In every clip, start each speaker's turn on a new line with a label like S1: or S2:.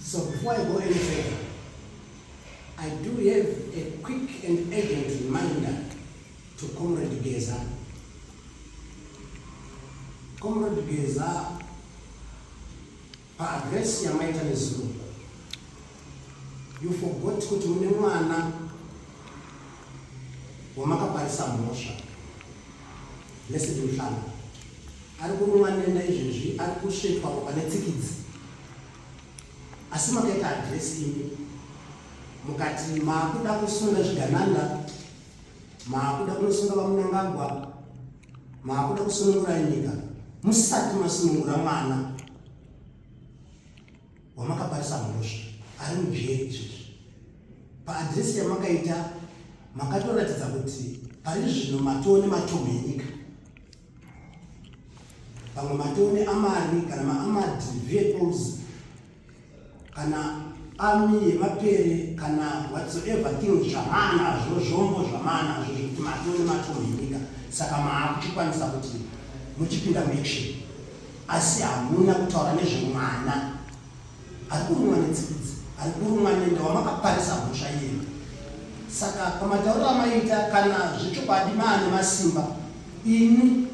S1: So before I go any further, I do have a quick and urgent reminder to Comrade Geza. Comrade Geza paaddress yamaita nezuro you forgot kuti mune mwana wamakaparisa mhosva Blessed Muhlanga ari kurumwa nenda izvezvi ari kusvetwa ropa netsikidzi asi makaita adresi imi mukati maakuda kusunga zvigananda maakuda kunosunga vamunangagwa maakuda kusunungura nyika musati masunungura mwana wamakaparisa mhosva ari mujeri izvezvi paadhiresi yamakaita makatoratidza kuti pari zvino matoo nematomu enyika pamwe matoo neamari kana maamad vehicles kana ami yemapere kana whatsoever thing zvamana zvo zvombo zvamana zvo zvekuti matoo nematomu enyika saka maakuchikwanisa kuti muchipinda muaction asi hamuna kutaura nezvemwana ari kurumwa netsikidzi ari kurumwa nenda wamakaparisa mhosva yenu saka pamatauriro amaita kana zvechokwadi maane masimba ini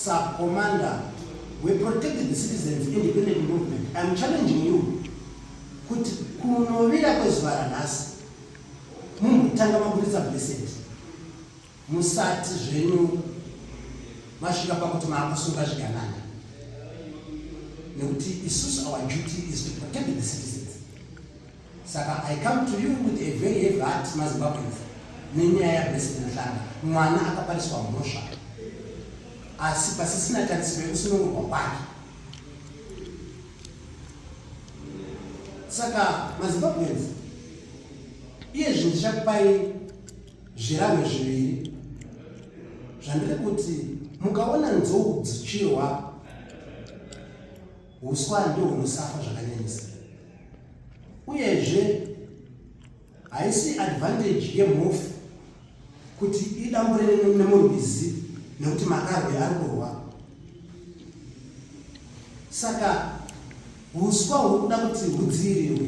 S1: sakomanda weprotected citizens independent movement iam challenging you kuti kunovira kwezuva ranhasi mumbotanga maburitsa blessed Musati zvenyu masvika pakuti maakusunga zviganana nekuti isusu our duty is to protect the citizens saka i come to you with a very heavy heart mazimbabweans nenyaya yabresidentlanga mwana akapariswa mhosva asi pasisina tarisiro yekusunungurwa kwake saka mazimbabweans iye zvinhu zvichakupai zvirango zviviri zvandiri kuti mukaona nzou dzichirwa uswa ndiwo hunosafa zvakanyanyisa uyezve haisi advantage yemhofu kuti idambure nemurwizi nekuti makarwe ari kurwa saka uswa huri kuda kuti hudziirirwe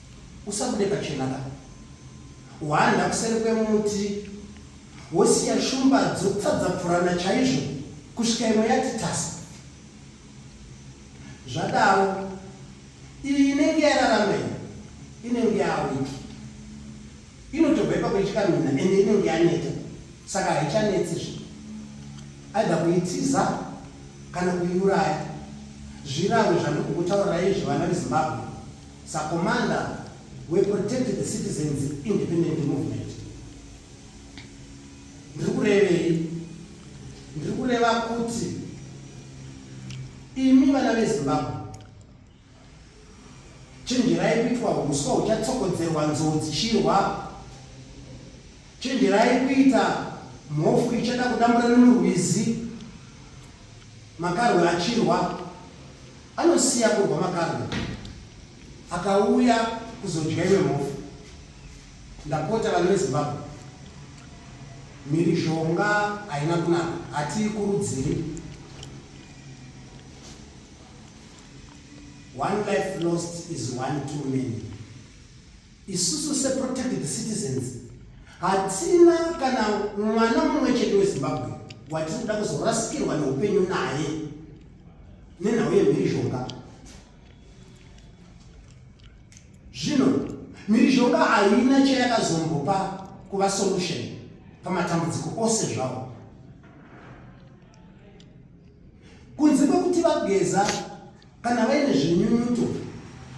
S1: usabude pachena ka hwanda kuseri kwemuti wosiya shumba dzotadzapfurana chaizvo kusvika imwe yati tasa zvadaro iyi inenge yararamei inenge yawiki inotobva ipa kuichikamina ende inenge yaneta saka haichanetsi zvi aida kuitiza kana kuiuraya zvirangwe zvandikukutaurira izvi vana vezimbabwe Sakomanda weProtect the Citizens Independent Movement ndiri kurevei? Ndiri kureva kuti imi vana veZimbabwe chenjerai kuitwa huswa huchatsokodzerwa nzou dzichirwa chenjerai kuita mhofu ichada kudambura nemurwizi makarwe achirwa Anosiya kurwa makarwe akauya kuzodya iwe mhofu. Ndapota vanhu veZimbabwe, mhirizhonga haina kunaka, hatiikurudziri. One life lost is one too many. Isusu seprotected citizens hatina kana mwana mumwe chete wezimbabwe watiri kuda kuzorasikirwa neupenyu naye nenhau yemhirizhonga zvino mhirizhonga haina chayakazombopa kuva solution pamatambudziko ose zvavo kunze kwekuti vageza Kana vaine zvinyunyuto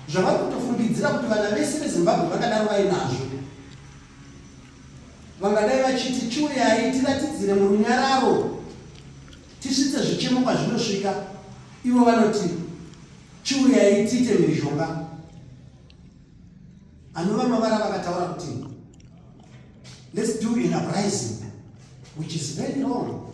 S1: zvavari kutofungidzira kuti vana vese vezimbabwe vakadaro vainazvo vangadai vachiti chiuyai tiratidzire murunyararo tisvitse zvichemo kwazvinosvika ivo vanoti chiuyai tiite mhirizhonga anova mavara vakataura kuti let's do an uprising which is very wrong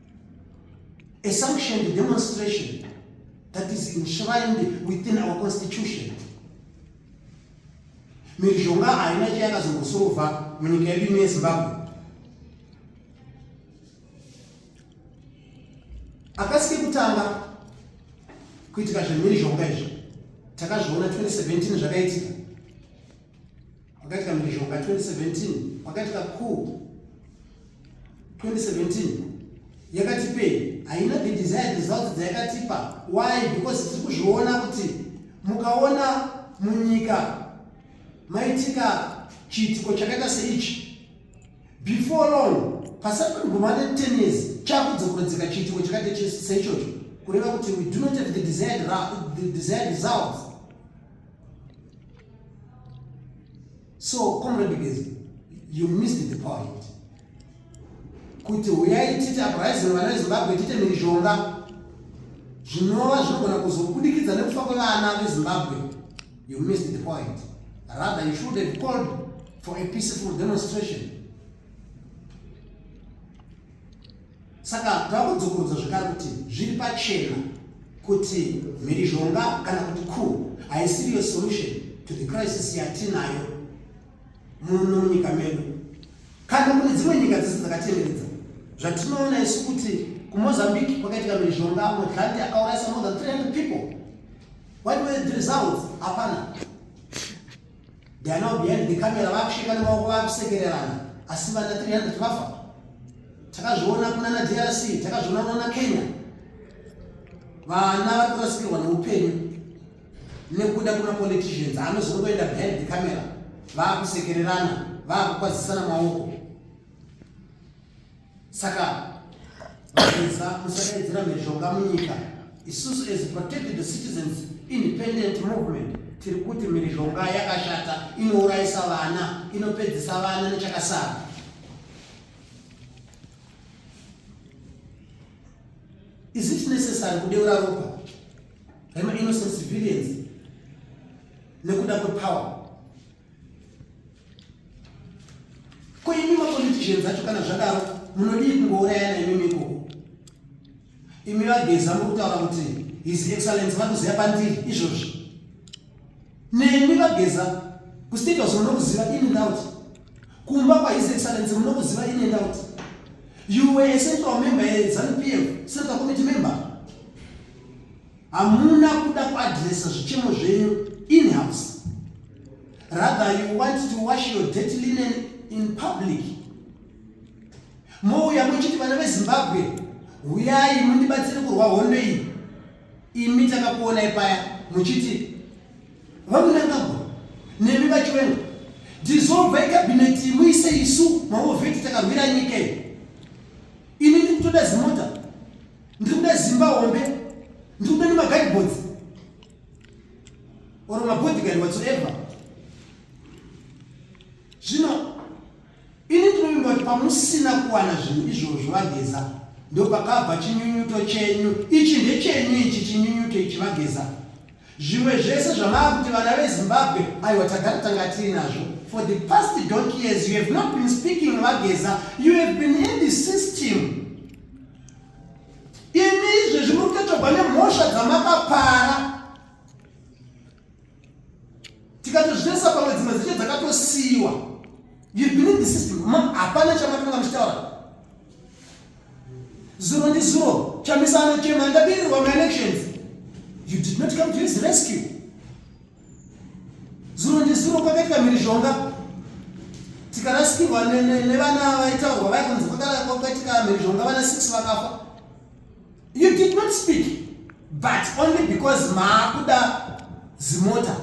S1: A sanctioned demonstration that is enshrined within our constitution. Mhirizhonga haina chayakazongosova munyika yedu ino yeZimbabwe. Akasike kutanga kuitika zvemhirizhonga izvi takazviona 2017 zvakaitika Pakaitika mhirizhonga 2017 pakaitika coup 2017 yakatipei haina the desired results dzayakatipa why because tiri kuzviona kuti mukaona munyika maitika chiitiko chakaita seichi before long pasati paguma ne ten years chakudzokorodzeka chiitiko chakaita seichocho kureva kuti we do not have the desired, the desired results so comrade gezi you missed the point kuti huyai titi uprising vana vezimbabwe tite mhirizhonga zvinova zvinogona kuzobudikidza nekufa kwevana vezimbabwe you missed the point rather you should have called for a peaceful demonstration saka takudzokorudza zvekare kuti zviri pachena kuti mhirizhonga kana kuti ku haisiriyo solution to the crisis yatinayo muno munyika medu kana kune dzimwe nyika dzese dzakatenderedza zvatinoona isu kuti kumozambique kwakaitika mhirizhonga modlanti akaurayisa more than 300 people what were the results hapana They are now behind the camera vakusvika nemaoko vakusekererana asi vana 300 vafa takazviona kuna na drc takazviona kuna na kenya vana vari kurasikirwa neupenyu nekuda kuna politicians anozongoenda behind the camera vakusekererana vakukwazisana maoko saka vapedza kusakaidzira mhezvoka munyika isusu as protected citizens independent movement tiri kuti mhirizhonga yakashata inourayisa vana inopedzisa vana nechakasara is it necessary kudeura ropa rema innocent civilians nekuda kwepower Koimi mapoliticians acho kana zvadaro munodii kungourayana imimi ikoko? Imi vageza muri kutaura kuti his excellence vatoziva pandiri izvozvi. Nemi vageza kustate house munokuziva in and out. Kumba kwa his excellence munokuziva in and out. You were a central member, a ZANU PF, central committee member. hamuna kuda kuadresa zvichemo zvenyu in house rather you want to wash your dirty linen in public mouya muchiti vana vezimbabwe huyai mundibatsire kurwa hondo iyi imi takakuonai paya muchiti vamunangagwa nemi vachiwenga dissolvai kabineti muise isu maovheti takarwira nyika iyi ini ndikutoda zimota ndikuda zimba hombe ndikuda nemagaibodzi or mabodigari whatsoever zvino ini ndinovimba kuti pamusina kuwana zvinhu izvozvo vageza ndopakabva chinyunyuto chenyu ichi ndechenyu ichi chinyunyuto ichi vageza zvimwe zvese zvamava kuti vana vezimbabwe aiwa tagara tanga tiri nazvo for the past donk years you have not been speaking vageza you have been in the system imi izvezvi muri kutotorwa nemhosva dzamakapara tikatozvitarisa pamwe dzimwe dzecho dzakatosiyiwa you've been in the system hapana chamakanga muchitaura zuro ndi zuro chamisa anochema ndabirirwa maelections you did not come to his rescue zuro ndizuro kwakaitika mhirizhonga tikarasikirwa nevana vaitaurwa vaya kunzi kwakaitika mhirizhonga vana six vakafa you did not speak but only because maakuda zimota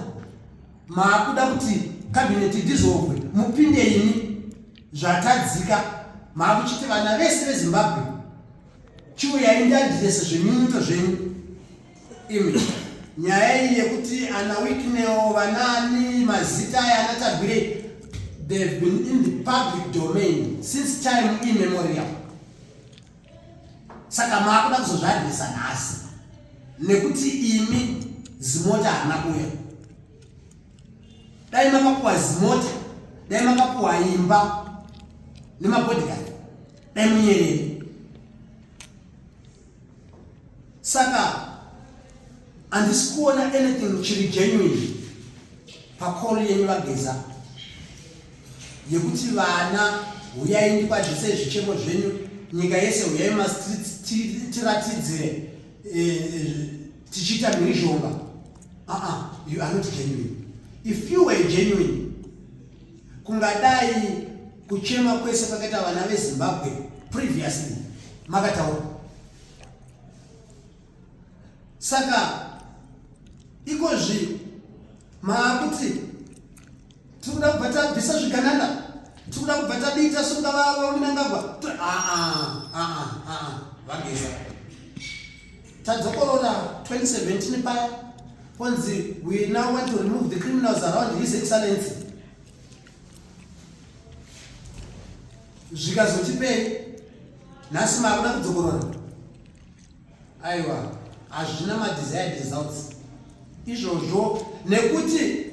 S1: maakuda kuti kabineti dizovwe mupinde imi zvatadzika maakuchiti vana vese vezimbabwe chiuyai ndiadirese zvenyunyuto zvenyu Imi nyaya iyi yekuti ana Wicknell vanaani mazita aya ana Tagwire they have been in the public domain since time immemorial. Saka maakuda kuzozvadresa nhasi nekuti imi zimota hana kuya dai makapuwa zimota dai makapuwa imba nemabodhikari dai munyerere saka handisi kuona anything chiri genuine pacall yenyu vageza yekuti vana huyai ndikwadzise zvichemo zvenyu nyika yese huyai mastreets tiratidzire eh, eh, tichiita mhirizhonga aa you are not genuine if you were genuine kungadai kuchema kwese kwakaita vana vezimbabwe previously makataura saka iko zvi maakuti tiri kuda kubva tabvisa zviganana tiri kuda kubva tadiita sungavavaunangagwa aa aa aa vageza tadzokorora 2017 paya konzi we now want to remove the criminals around his excellency zvikazotipei nhasi makuda kudzokorora aiwa hazvina madesired results izvozvo nekuti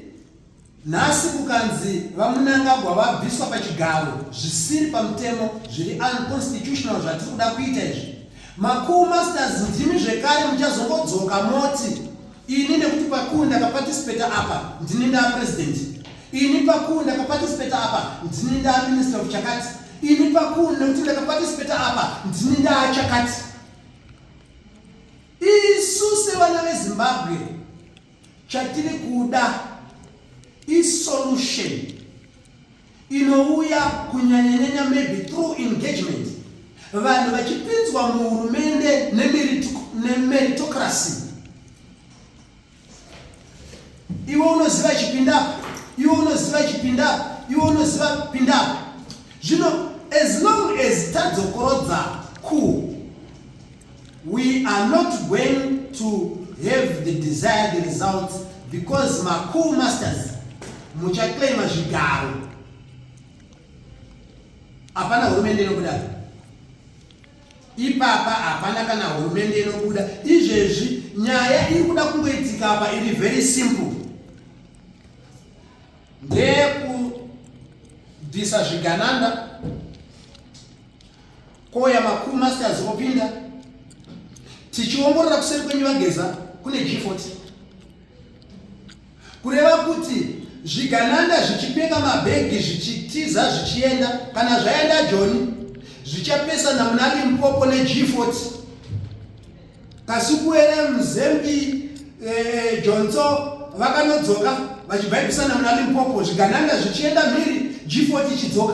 S1: Nhasi kukanzi VaMnangagwa vabviswa pachigaro zvisiri pamutemo zviri unconstitutional zvatiri kuda kuita izvi. Makuu Masters ndimi zvekare muchazongodzoka moti ini nekuti pakuu ndakaparticipata apa ndini ndaa president. Ini pakuu ndakaparticipata apa ndini ndaa minister of chakati. Ini pakuu nekuti ndakaparticipata apa ndini ndaa chakati. Isu sevana veZimbabwe Chatiri kuda isolution inouya kunyanyanyanya maybe through engagement vanhu vachipinzwa muhurumende nemeritocracy iwe unoziva chipindapa iwe unoziva chipindapa iwe unoziva pindapa zvino as long as tadzokorodza ku We are not going to have the desired results because macool masters muchaclaima zvigaro hapana hurumende inobuda ipapa hapana kana hurumende inobuda izvezvi nyaya iri kuda kungoitika apa iri very simple ndeyekudhisa zvigananda Ko yamakuru masters vopinda tichiongorora kuseri kwenyu vageza kune G40 kureva kuti zvigananda zvichipeka mabhegi zvichitiza zvichienda kana zvaenda joni zvichapesana muna limpopo neG40 kasikuwere muzembi eh, jonso vakanodzoka vachibhaibisana muna limpopo zvigananda zvichienda mhiri G40 ichidzoka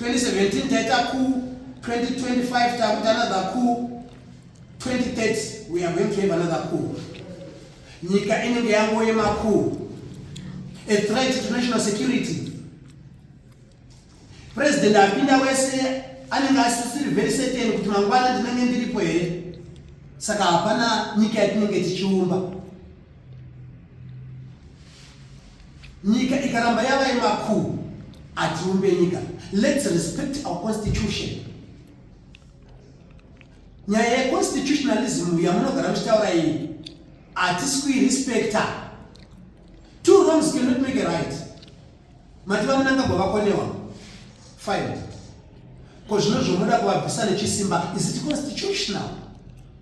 S1: 2017 taita ku 2025 takuta another ku 2030 we are going to have another ku nyika inenge yango yemaku a threat to national security president apinda wese anenge asisiri very certain kuti mangwana ndinenge ndiripo here saka hapana nyika yatinenge tichiumba nyika ikaramba yava yemakuru hatiumbe nyika let's respect our constitution nyaya yeconstitutionalism uya munogara muchitaura iyi hatisi kuirespecta two wrongs cannot make a right mati vamunangagwa vakonewa fine ko zvino zvomoda kuvabvisa nechisimba is it constitutional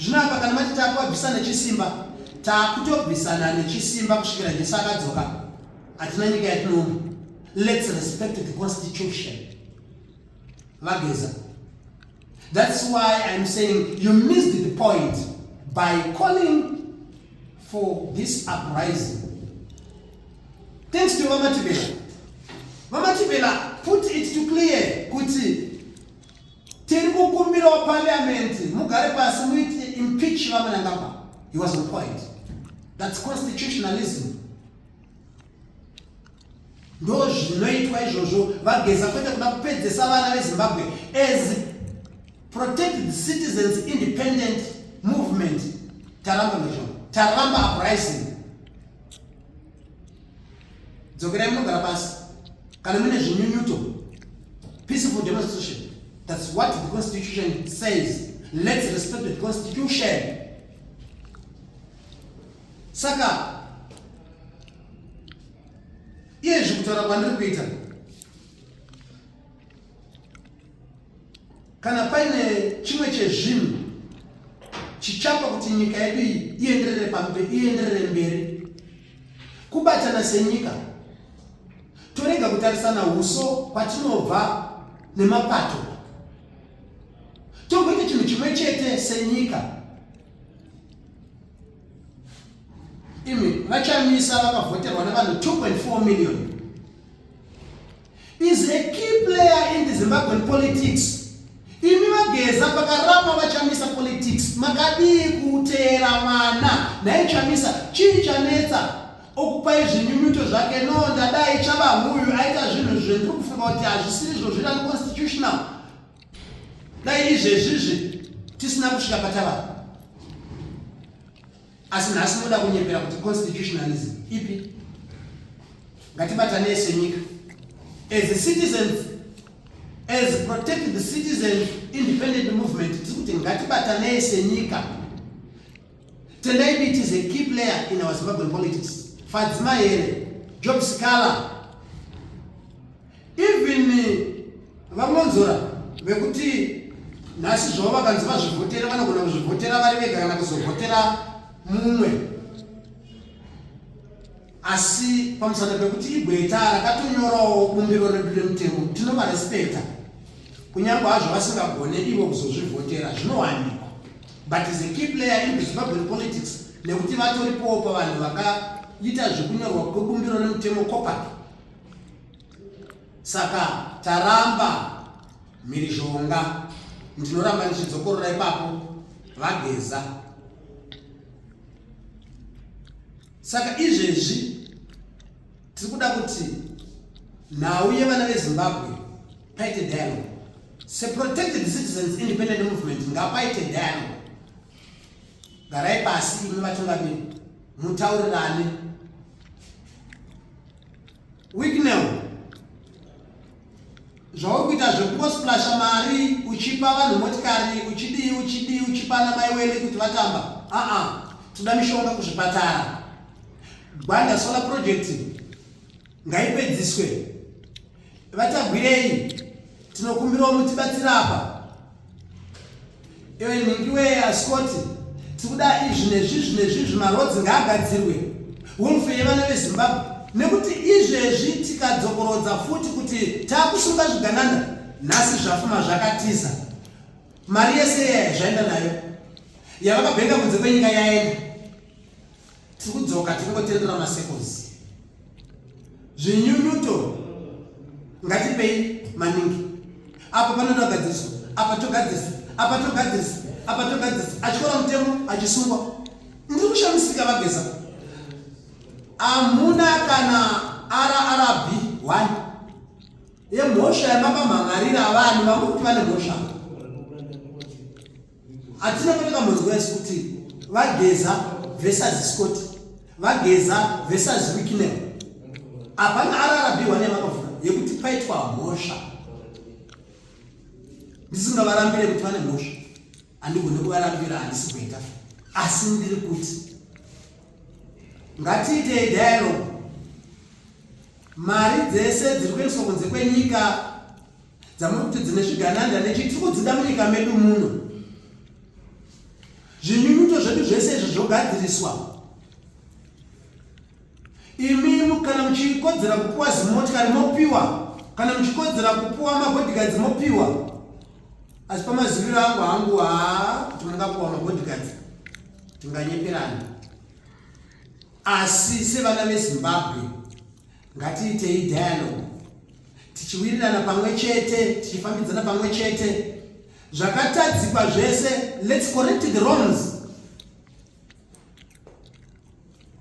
S1: zvino apa kana mati takuabvisa nechisimba takutobvisana nechisimba kusvikira jesu akadzoka hatina nyika yatinoona lets respect the constitution vageza that's why iam saying you missed the point by calling for this uprising thanks to vamatibela vamatibela put it to clear kuti Tiri kukumbira wa parliament mugare pasi muiti impeach vamwe nangamba. He was on point. That's constitutionalism. Ndo zvinoitwa izvozvo vageza kwete kuda kupedzesa vana veZimbabwe as protect the citizens independent movement taramba mezvo taramba uprising dzokerai munogara pasi kana mune zvinyunyuto peaceful demonstration that's what the constitution says let's respect the constitution saka iye zvekutaura kwandiri kuita kana paine chimwe chezvinhu chichapa kuti nyika yedu iyi ienderere pambe ienderere mberi Kubatana senyika torega kutarisana uso kwatinobva nemapato togoita chinhu chimwe chete senyika imi vachamisa vakavhoterwa nevanhu 2.4 million is a key player in the Zimbabwean politics. Imi vageza pakarapa vachamisa politics makadii kuteera mwana nhai chamisa chii chanetsa okupai zvinyunyuto zvake no ndadai chavahuyu aita zvinhu zvendiri kufunga kuti hazvisiri zvo zviri unconstitutional dai izvezvizvi tisina kusvika patavaa asi nhasi moda kunyepera kuti constitutionalism ipi ngatibatanei senyika as a citizens as protect the citizen independent movement tiri kuti ngatibatanei senyika tendai biti is a key player in our zimbabwean politics fadzima here job scala even vamonzora vekuti nhasi zvavo vakanzi vazvivhotera vanogona kuzvivhotera vari vega kana kuzovhotera mumwe asi pamusana pekuti igweta rakatonyorawo bumbiro redu remutemo tinovarespecta kunyange hazvo vasingagone ivo kuzozvivhotera zvinowanikwa but is a key player in zimbabwen politics nekuti vatoripowo pavanhu vakaita zvekunyorwa kwebumbiro remutemo copati saka taramba mhirizhonga ndinoramba ndichidzokorora ipapo vageza saka izvezvi tiri kuda kuti nhau yevana vezimbabwe paite dialogue seprotected citizens independent movement ngapaite dialogue garai pasi imi vatungamiri mutaurirane Wicknell zvauri kuita zvekungosiplasha mari uchipa vanhu motikari uchidii uchidii uchipa ana mai wene kuti vatamba aa toda mishonga kuzvipatara gwanda solar project ngaipedziswe VaTagwirei tinokumbirawo mutibatsira apa. Iwe nhingi wee asikoti tikuda izvi nezvizvi nezvizvi marodzi ngaagadzirwe wolfe yevana vezimbabwe nekuti izvezvi tikadzokorodza futi kuti taakusunga zviganana nhasi zvafuma zvakatiza mari yese yaya zvaenda nayo yavakabenga kunze kwenyika yaenda tiri kudzoka tiri kungotenderera masecos zvinyunyuto ngatipei maningi apa panoda gadziso apa togadzisa apa togadzisa apa togadzisa achikora mutemo achisungwa ndiri kushamisika vageza amuna kana rrb one yemhosva yamapamhan'arira vanhu vamuri kuti vane mhosva hatina patakamboziva isu kuti vageza versus scott vageza versus wiknel hapana ararabiwa nemakavhura yekuti paitwa mhosva ndisingavarambire kuti vane mhosva handigone kuvarambira handisi kuita asi ndiri kuti ngatiitei dialogue mari dzese dziri kuendeswa kunze kwenyika dzamuri kuti dzine zvigananda nechi tiri kudzida munyika medu muno zvinyunyuto zvedu zvese izvi zvogadziriswa imimu kana muchikodzera kupiwa zimotikari mopiwa kana muchikodzera kupiwa mabodigadzi mopiwa asi pamaziviro angu hangu haa kuti mungapiwa mabodigadzi tinganyeperana asi sevana vezimbabwe ngatiitei dialogue tichiwirirana pamwe chete tichifambidzana pamwe chete zvakatadzikwa zvese lets correct the wrongs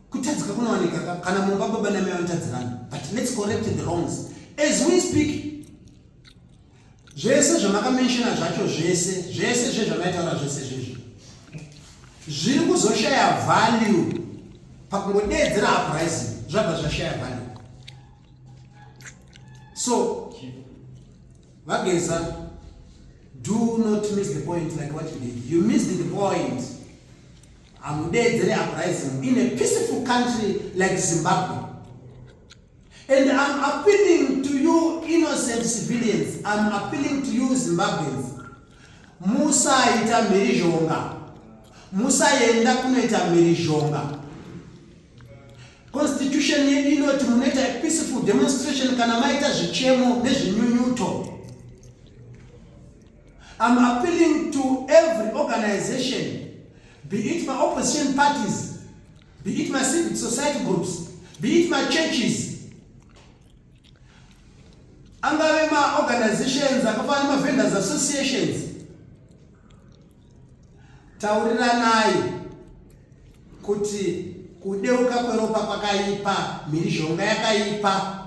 S1: kutadzika kunowanika kana mumba baba namai vanotadzirana but lets correct the wrongs as we speak zvese zvamakamentshona zvacho zvese zvese zve zvamaitaura zvese zvezvi zviri kuzoshaya value pakungodeedzera uprising zvabva zvashaya value so vageza do not miss the point like what you did you missed the point hamudeedzere uprising in a peaceful country like zimbabwe And I'm appealing to you innocent civilians. I'm appealing to you Zimbabweans. Musaita mhirizhonga. Musaenda kunoita mhirizhonga. Constitution yedu inoti munoita peaceful demonstration kana maita zvichemo nezvinyunyuto. I'm appealing to every organization, be it my opposition parties, be it my civic society groups be it my churches angave maorganizations akafanana nemavendors associations tauriranai kuti kudeuka kweropa kwakaipa mhirizhonga yakaipa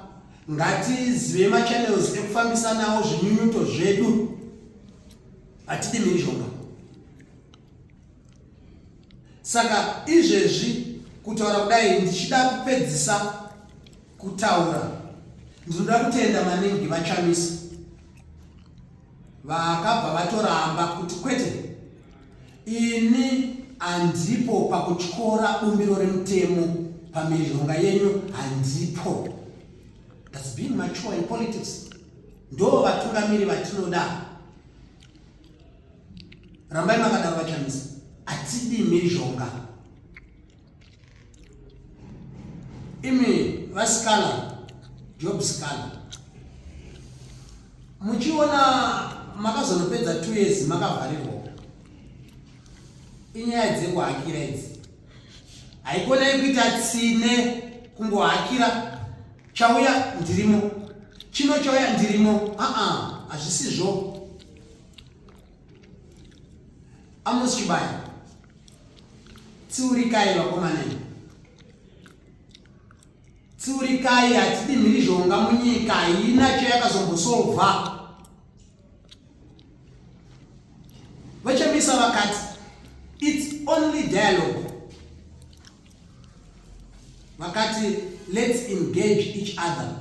S1: ngatizive machannels ekufambisanawo zvinyunyuto zvedu hatidi mhirizhonga saka izvezvi kutaura kudai ndichida kupedzisa kutaura ndinoda kutenda maningi vachamisa vakabva vatoramba kuti kwete ini handipo pakutyora bumbiro remutemo pamirizhonga yenyu handipo thats been mature in politics ndo vatungamiri vatinoda rambai makadaro vachamisa hatidi mhirizhonga imi vasikala job sikala muchiona makazonopedza two years makavharirwa inyaya dzekuhakira idzi haikona yekuita tsine kungohakira chauya ndirimo chino chauya ndirimo aa hazvisizvo Amos Chibaya, tsiurikai vakomana imi, tsiurikai. Hatidi mhirizhonga munyika, haina chayakazombosolva. VaChamisa vakati it's only dialogue, vakati let's engage each other.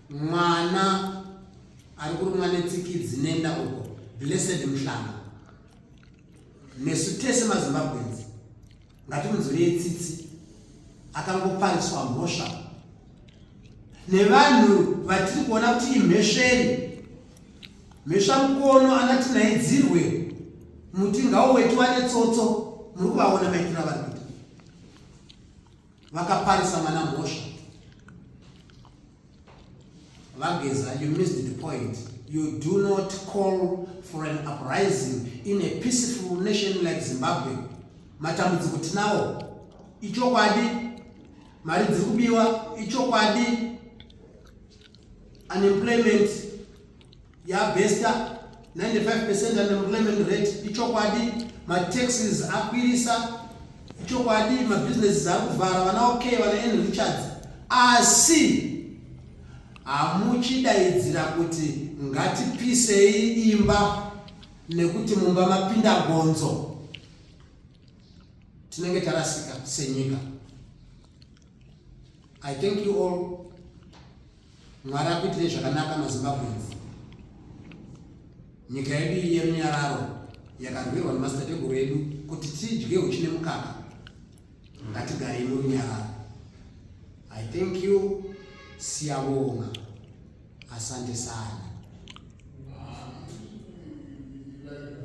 S1: mwana ari kurumwa netsikidzi nenda uko blessed muhlanga nesu tese mazimbabwenzi ngatimunzwirei tsitsi akangopariswa mhosva nevanhu vatiri kuona kuti imhesveri mhesva mukono anati naidzirwe muti ngauwetiwa netsotso muri kuvaona maitirava vakaparisa mwana mhosva vageza you missed the point you do not call for an uprising in a peaceful nation like zimbabwe matambudziko tinawo ichokwadi mari dziri kubiwa ichokwadi unemployment yabesta 95 percent unemployment rate ichokwadi mataxes akwirisa ichokwadi mabusinesses ari kuvhara vana okay vana en richards asi hamuchidaidzira kuti ngatipisei imba nekuti mumba mapinda gonzo tinenge tarasika senyika i thank you all Mwari akuitire zvakanaka maZimbabweans. Nyika yedu iyi yerunyararo yakarwirwa nemadzitateguru edu kuti tidye uchi nemukaka. Ngatigarei murunyararo. I thank you Siyabonga. Asante sana.